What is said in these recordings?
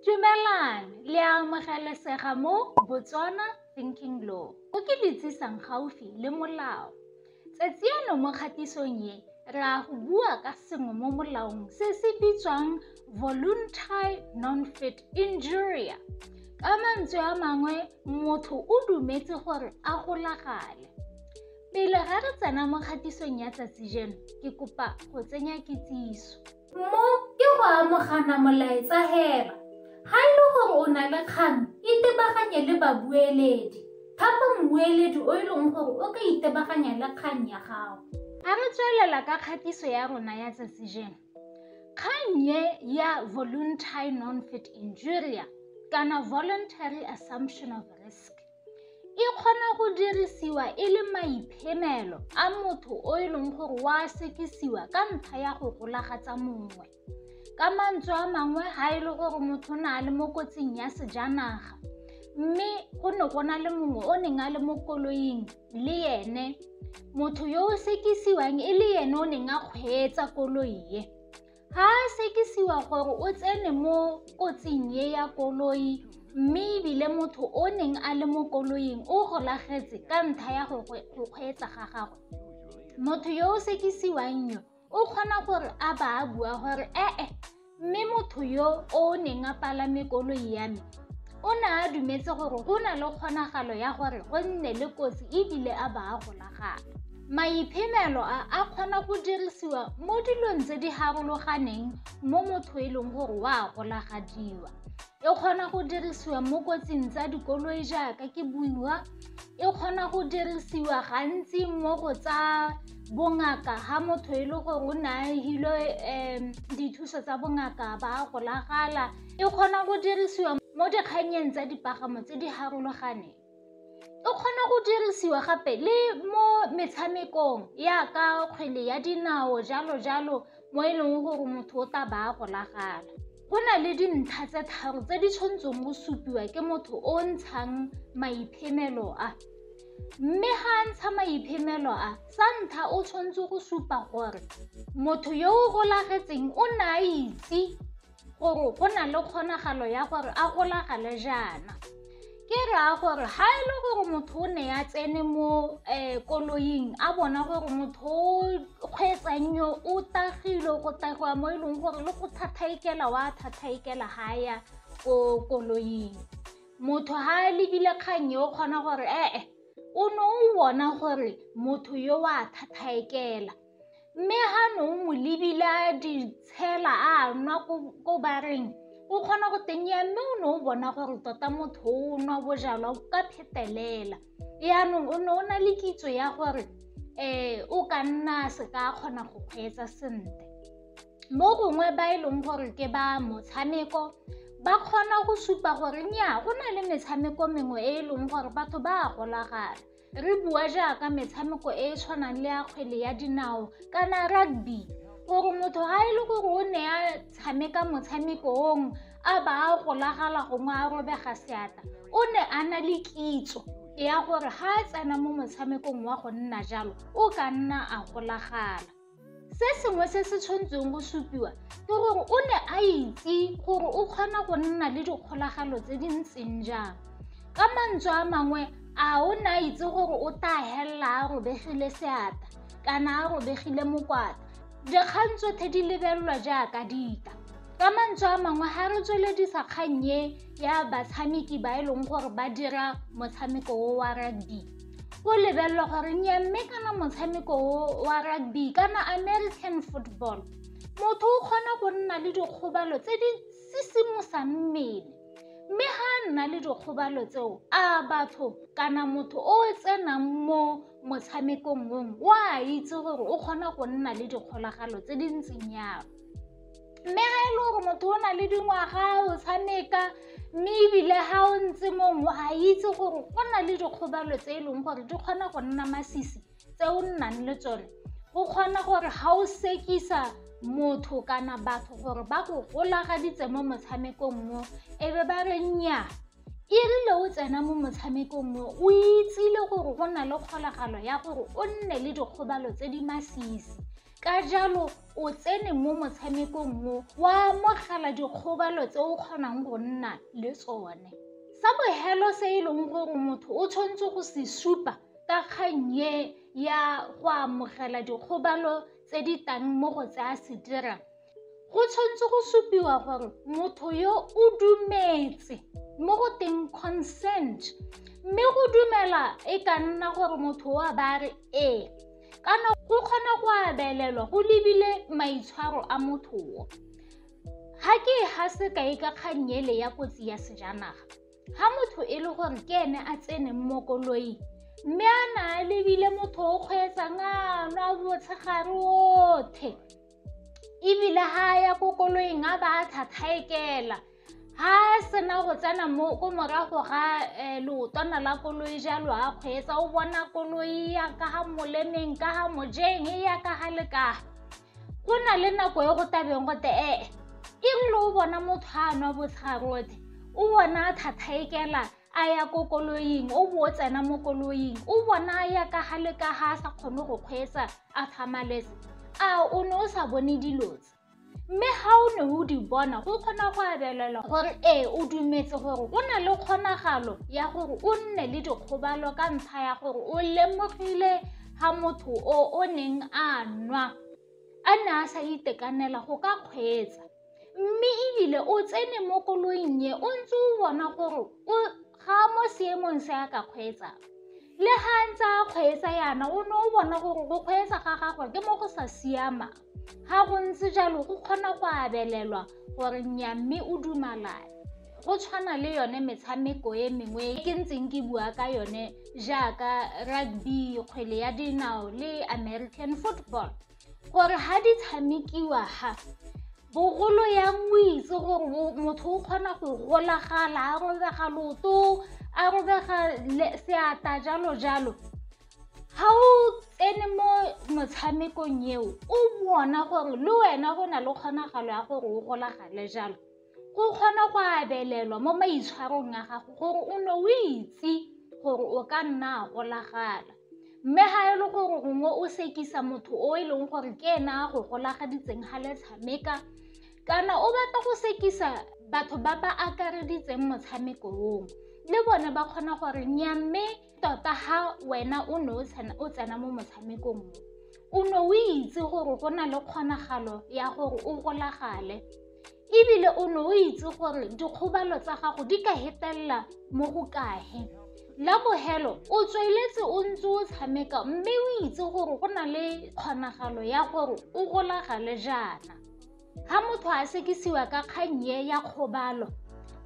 Dumelang, le a amogelesega mo Botswana Thinking Law. O ke le tsisang gaufi le molao. Tsatsi eno mo kgatisong ye, re a go bua ka sengwe mo molaong se se bitswang voluntary non-fit injuria. Ka mantswe a mangwe, motho o dumetse gore a golagale. Pele ga re tsena mo kgatisong ya tsatsi jeno, ke kopa go tsenya kitsiso. Mo ke go amogana molaetsa heba. Ga e le gore o na le kgang, itebaganye le babueledi. Thapa mmueledi o e leng gore o ka itebaganya le kgang ya gago. A re tswelela ka kgatiso ya rona ya tsatsi jeno. Kgang ye ya voluntary non-fit injuria kana voluntary assumption of risk. e kgona go dirisiwa e le maiphemelo a motho o e leng gore wa sekisiwa ka ntlha ya go golagatsa mongwe ka mantswe a mangwe ga e le gore motho o ne a le mo kotsing ya sejanaga mme go ne go na le mongwe o neng a le mo koloing le ene motho yo o sekisiwang e le ene o neng a kgweetsa koloi e Ga a sekisiwa gore o tsene mo kotsing e ya koloi mme ebile motho o neng a le mo koloing o golagetse ka ntlha ya go kgweetsa ga gagwe. Motho yo o sekisiwang yo o kgona gore a ba a bua gore ee mme motho yo o neng a palame koloi ya me O ne a dumetse gore go na le kgonagalo ya gore go nne le kotsi e bile a ba a golagana. Maiphemelo a a kgona go dirisiwa mo dilong tse di harologaneng mo motho e leng gore wa a golagadiwa. E kgona go dirisiwa mo kotsing tsa dikoloi jaaka ke buiwa, e kgona go dirisiwa gantsi mo go tsa bongaka ha motho e le gore o ne a hilo dithuso tsa bongaka ba a golagala E kgona go dirisiwa mo dikgannyeng tsa dipagamo tse di harologaneng. E kgona go dirisiwa gape le mo metshamekong yaka kgwele ya dinao jalo jalo mo e leng gore motho o tla ba a golagana. Go na le dintlha tse tharo tse di tshwanetseng go supiwa ke motho o o ntshang maiphemelo a, mme ga a ntsha maiphemelo a sa ntlha o tshwanetse go supa gore motho yo o golagetseng o ne a itse gore go na le kgonagalo ya gore a golagale jaana ke raya gore ga e le gore motho o ne ya tsene mo um koloing a bona gore motho o kgweetsang yo o tagile go tagiwa mo e leng gore le go thathaikela wa thathaikela ga ya ko koloing motho ga a lebile kgang yo o kgona gore ee o ne o bona gore motho yo wa thathaekela Mme ga no mo lebile a di tshela a nwa ko bareng o kgona go tenya mme o ne o bona gore tota motho o nwa bojalwa ka phetelela yaanong o ne o na le kitso ya gore um o ka nna se ka kgona go kgweetsa sentle mo gongwe ba e leng gore ke ba motshameko ba kgona go supa gore nya go na le metshameko mengwe e e leng gore batho ba a golagana re bua jaaka metshameko e e tshwanang le ya kgwele ya dinao kana rugby gore motho ga e le gore o ne a tshameka motshameko ong a ba a golagala gongwe a robega seatla o ne a na le kitso ya gore ga a tsena mo motshamekong wa go nna jalo o ka nna a golagala Se sengwe se se tshwanetseng go supiwa ke gore o ne a itse gore o kgona go nna le dikgolagalo tse di ntseng jang. Ka mantswe a mangwe, a o ne a itse gore o tla helela a robegile seata kana a robegile mokwata. Dikgang tsotlhe di lebelelwa jaaka dita. Ka mantswe a mangwe, ga re tsweledisa kgang e ya batshameki ba e leng gore ba dira motshameko o wa rugby. go lebelelwa gore nyamme kana motshameko wa rugby kana american football motho o kgona go nna le dikgobalo tse di sisimosa mmele mme ga a nna le dikgobalo tseo a batho kana motho o tsenang mo motshamekong mong o a itse gore o kgona go nna le dikgolagalo tse di ntseng yalo mme ga e le gore motho o na le dingwaga o tshameka mme ebile ga o ntse mongwe a itse gore go na le dikgobalo tse e leng gore di kgona go nna masisi tse o nnang le tsone go kgona gore ga o sekisa motho kana batho gore ba go golagaditse mo motshamekong mo e be ba re nnyaa e rile o tsena mo motshamekong mo o itsile gore go na le kgolagalo ya gore o nne le dikgobalo tse di masisi Ka jalo, o tsene mo motshamekong mo wa amogela dikgobalo tse o kgonang go nna le tsone. Sa bohelo se e leng gore motho o tshwanetse go se supa ka kgang ye ya go amogela dikgobalo tse di tang mo go tse a se dirang, go tshwanetse go supiwa gore motho yo o dumetse mo go teng consent mme go dumela e ka nna gore motho wa ba re ee kana go kgona go abelelwa go lebile maitshwaro a motho wo ga ke ga sekai ka kganyele ya kotsi ya sejanaga ga motho e le gore ke ene a tsene mo koloing mme a na a lebile motho o kgweetsang a nwa botshegare othe ebile ga a ya ko koloing a ba a tlhatlhaekela ga a sena go tsena mo ko morago ga um leotwana la koloi jalo a kgweetsa o bona koloi ya ka ga molemeng ka ga mojeng e ya ka ga lekaga go na le nako e go tabeng gote ee e ngwe le o bona motho a nwa botlharote o bona a tlhatlhaekela a ya ko koloing o bo o tsena mo koloing o bona a ya ka ga le ka ga a sa kgone go kgweetsa a thamaletse a o ne o sa bone dilo tse mme ga o ne o di bona go kgona go abelela gore ee o dumetse gore o na le kgonagalo ya gore o nne le dikgobalo ka ntlha ya gore o lemogile ga motho o o neng a nwa a ne a sa itekanela go ka kgweetsa mme ebile o tsene mo koloing e o ntse o bona gore o ga mo seemong se a ka kgweetsa le ga ntse a kgweetsa yana o ne o bona gore go kgweetsa ga gagwe ke mo go sa siama ga go ntse jalo go kgona go abelelwa gore nya mme o dumalane go tshwana le yone metshameko e mengwe e ke ntseng ke bua ka yone jaaka rugby kgwele ya dinao le american football gore ha di tshamekiwa ha bogolo ya moitse gore motho o kgona go golagala a robega loto a robega seata jalo jalo ha o tsene mo motshamekong eo o bona gore le wena go na le kgonagalo ya gore o golagale jalo go kgona go abelelwa mo maitshwarong a gago gore o ne o itse gore o ka nna a golagala mme ga e le gore gongwe o sekisa motho o e leng gore ke ena a go golagaditseng ga le tshameka kana o batla go sekisa batho ba ba akareditseng motshameko oo le bone ba kgona gore nya mme tota ga wena o ne o tsena mo motshamekong mo o ne o itse gore go na le kgonagalo ya gore o golagale ebile o ne o itse gore dikgobalo tsa gago di ka hetelela mo go kahe la bogelo o tsweletse o ntse o tshameka mme o itse gore go na le kgonagalo ya gore o golagale jaana Ga motho a sekisiwa ka kgang ye ya kgobalo,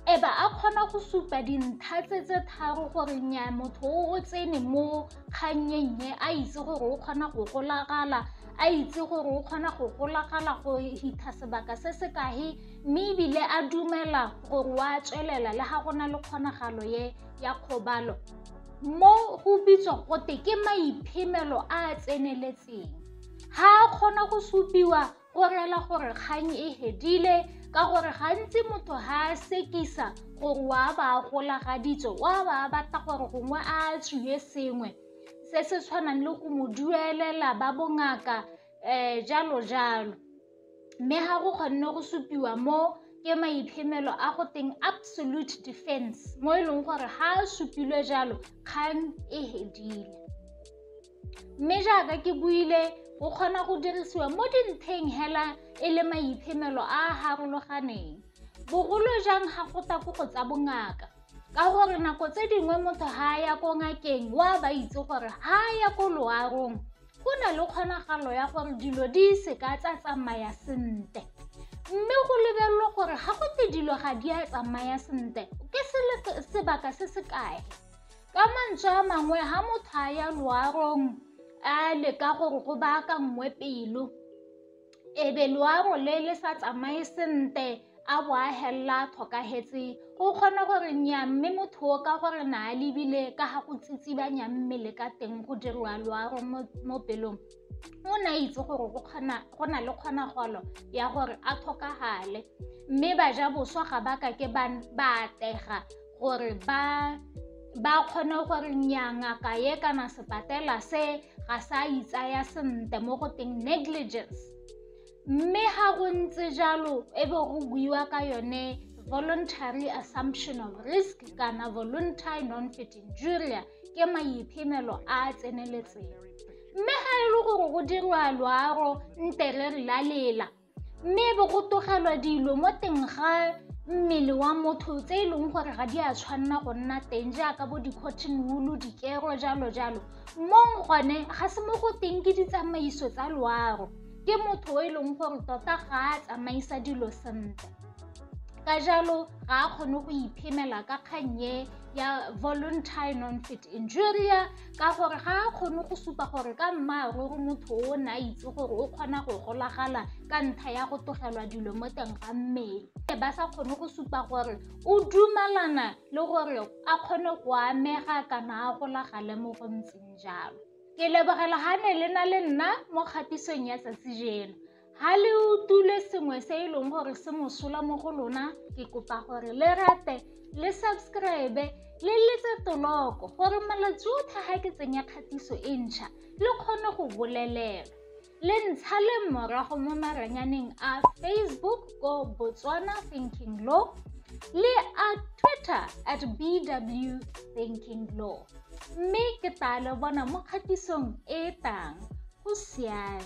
e ba a kgona go supa dintlha tse tse tharo gore nya motho o o tsene mo kgannyeng ye a itse gore o kgona go golagala a itse gore o kgona go golagala go hitha sebaka se se kae mme ebile a dumela gore wa tswelela le ga go na le kgonagalo ye ya kgobalo mo go bitswa gote ke maiphemelo a a tseneletseng ga a kgona go supiwa go rela gore kgang e hedile ka gore gantsi motho ga a sekisa gore wa ba a golagaditswe wa ba a batla gore gongwe a tswiwe sengwe se se tshwanang le go mo duelela ba bongaka um jalo jalo mme ga go kgonne go supiwa mo ke maiphemelo a go teng absolute defense mo e leng gore ga a supilwe jalo kgang e hedile Mme jaaka ke buile, o kgona go dirisiwa mo dintheng hela e le maiphemelo a a harologaneng, bogolo jang ga go tla ko go tsa bongaka. Ka gore nako tse dingwe motho ga a ya ko ngakeng o a ba itse gore ga a ya ko loarong go na le kgonagalo ya gore dilo di se ka tsa tsamaya sentle. Mme go lebelelwa gore ga go te dilo ga di a tsamaya sentle ke sebaka se se kae. Ka mantswe a mangwe, ha motho a ya loarong a leka gore go baakanngwe pelo, e be loaro le le sa tsamaye sentle a bo a helela a tlhokagetse, o kgona gore nnyaa mme motho o ka gore na a lebile ka ga go tsitsibanya mmele ka teng go diriwa loaro mo pelong. o ne a itse gore go na le kgonagalo ya gore a tlhokagale mme baja boswa ga ba kake ba atega gore ba ba kgone gore nyangaka ye kana sepatela se ga sa itsaya sentle mo go teng negligence mme ga go ntse jalo e be go buiwa ka yone voluntary assumption of risk kana voluntary non-fitting juria ke maiphemelo a a tseneletseng mme ga e le gore go dirwa loaro nte re la lela mme e be go togelwa dilo mo teng ga mmele wa motho tse e leng gore ga di a tshwanela go nna teng jaaka bo di-cotton wool dikero jalo jalo mong gone ga se mo go teng ke ditsamaiso tsa loaro ke motho o e leng gore tota ga a tsamaisa dilo sentle ka jalo ga a kgone go iphemela ka kgannye ya voluntary non-fit injuria ka gore ga a kgone go supa gore ka mmaaruri motho o ne a itse gore o kgona go golagala ka ntlha ya go tlogelwa dilo mo teng ga mmele e ba sa kgone go supa gore o dumalana le gore a kgone go amega kana a golagale mo go ntseng jalo Ke lebogela ga ne le na le nna mo kgatisong ya tsatsi jeno. Ha le utule sengwe se e leng gore se mosola mo go lona, ke kopa gore le rate, le subscribe, le letse toloko gore malatsi otlhe ga ke tsenya kgatiso e ntšha, le kgone go bolelelwa. le ntsha le morago mo maranyaneng a facebook ko botswana thinking law le a twitter at bw thinking law mme ke tla le bona mo kgatisong e e tang go siame